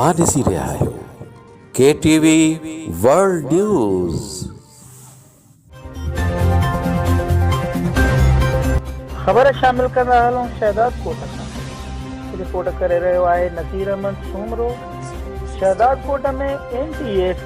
اوهان ڏسي رهيا آهيو K T V world news. خبر شامل ڪندا هلون شهداد ڪوٽ کان رپورٽ ڪري رهيو آهي Naseer Ahmed Soomro Shahdad Kot ۾ M T S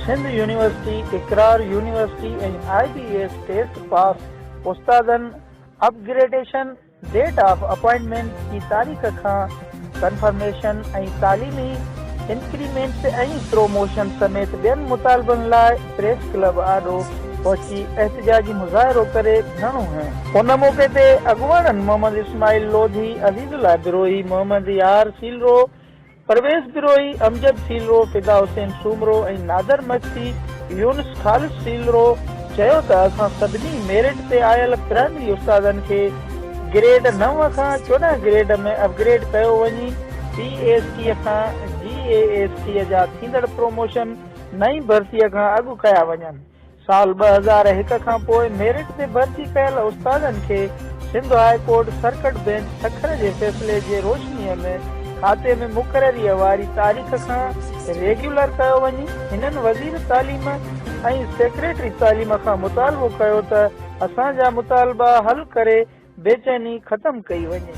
Sindh university Iqrar university ۽ I B S test pass استادن upgradation date of appointment جي تاريخ کان ڪنفرميشن ۽ تعليمي انڪريمينٽس ۽ پروموشن سميت ٻين مطالبن لاء پريس ڪلب آڏو پهچي احتجاجي مظاهرو ڪري ڌرڻو هنيو. ان موقعي تي اڳواڻن محمد اسماعيل لوڌي، عزيز الله بروهي، محمد يار سيلرو، پرويز بروهي، امجد سيلرو، فدا حسين سومرو ۽ نادر مگسي، يونس خالص سيلرو چيو ته اسان سڀني ميرٽ تي آيل پرائمري استادن کي گريڊ نو کان چوڏهن گريڊ ۾ اپ گريڊ ڪيو وڃي، پي اي ايس ٽي کان جي اي ايس ٽي جا ٿيندڙ پروموشن نئين ڀرتي کان اڳ ڪيا وڃن، سال ٻه هزار هڪ کان پوء ميرٽ تي ڀرتي ڪيل استادن کي Sindh high court circuit bench Sukkur جي فيصلي جي روشنيء ۾ کاتي ۾ مقرريء واري تاريخ کان ريگيولر ڪيو وڃي هنن وزير تعليم ۽ سيڪريٽري تعليم کان مطالبو ڪيو ته اسان جا مطالبا حل ڪري بيچيني ختم ڪئي وڃي.